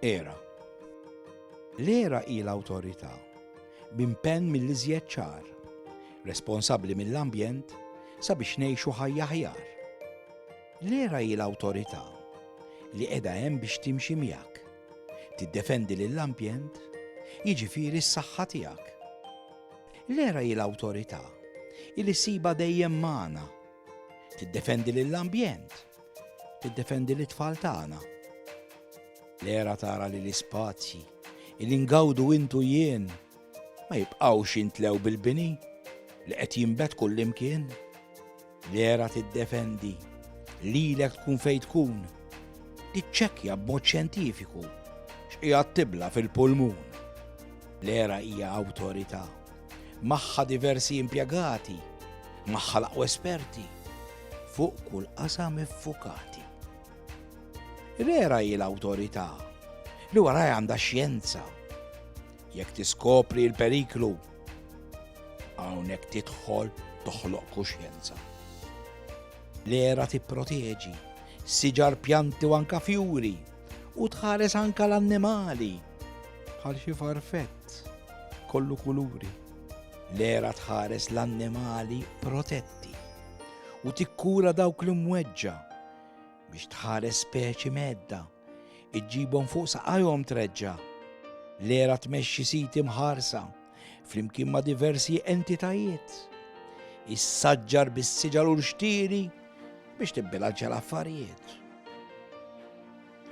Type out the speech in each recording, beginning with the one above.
Era. L-era hi l-awtorità b'impenn mill-iżjed ċar, responsabbli mill-ambjent sabiex ngħixu ħajja ħjar. L-era hi l-awtorità li qiegħda hemm biex timxi miegħek, tiddefendi lill-ambjent, jiġifieri s-saħħa tiegħek. L-era hi l-awtorità li siba dejjem magħna Tiddefendi lill-ambjent, tiddefendi lit-tfal tagħna. L-era tara li l-ispazji, il-ingawdu intu jien, ma jibqawx intlew bil-bini li qed jimbet kullimkien. L-era tiddefendi lilek tkun fejn tkun, tiċċekkja b'mod xjentifiku x'qiegħed tibla fil-pulmun. L-era hija awtorità magħha diversi impjegati, magħha laqwa esperti, fuq kull qasam iffukati. Rera hi l-awtorità li wara għandha xjenza. Jekk tiskopri l-periklu, hawnhekk tidħol toħloq kuxjenza. L-era tipproteġi, siġar pjanti u anka fjuri, u tħares anka l-annimali Bħal xi farfett kollu kuluri. L-era tħares l-annimali protetti u tikkura dawk li mweġġa biex tħares speċi medda iġġibhom fuq saqajhom treġġa. L-era tmexxi siti mħarsa flimkien ma' diversi entitajiet. Is-saġġar bis-siġar u l-xtiri biex tibbilanċja l-affarijiet.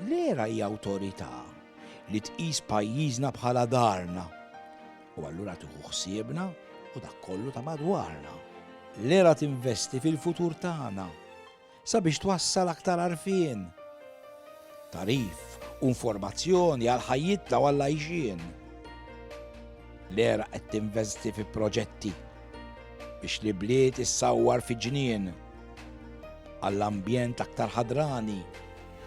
L-era hija awtorità li tqis pajjiżna bħala darna u allura tieħu ħsiebna u dak kollu ta' madwarna. L-era tinvesti fil-futur tagħna sabiex twassal aktar arfien, tarif u informazzjoni għal ħajjitna u għal għajxien. L-era qed tinvesti fi proġetti biex li bliet issawwar fi ġnien għall-ambjent aktar ħadrani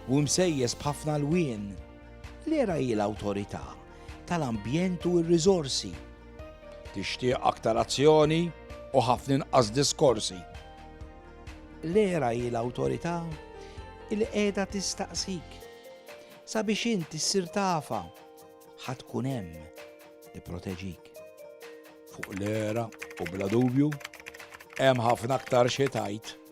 u msejjes b'ħafna lwien. L-era hi l-awtorità tal-ambjent u r-riżorsi. Tixtieq aktar azzjoni u ħafna inqas diskorsi. L-era hi l-awtorità li qiegħda tistaqsik sabiex int issir tafa ħa tkun hemm tipproteġik. Fuq l-era u bla dubju hemm ħafna aktar xi tajt.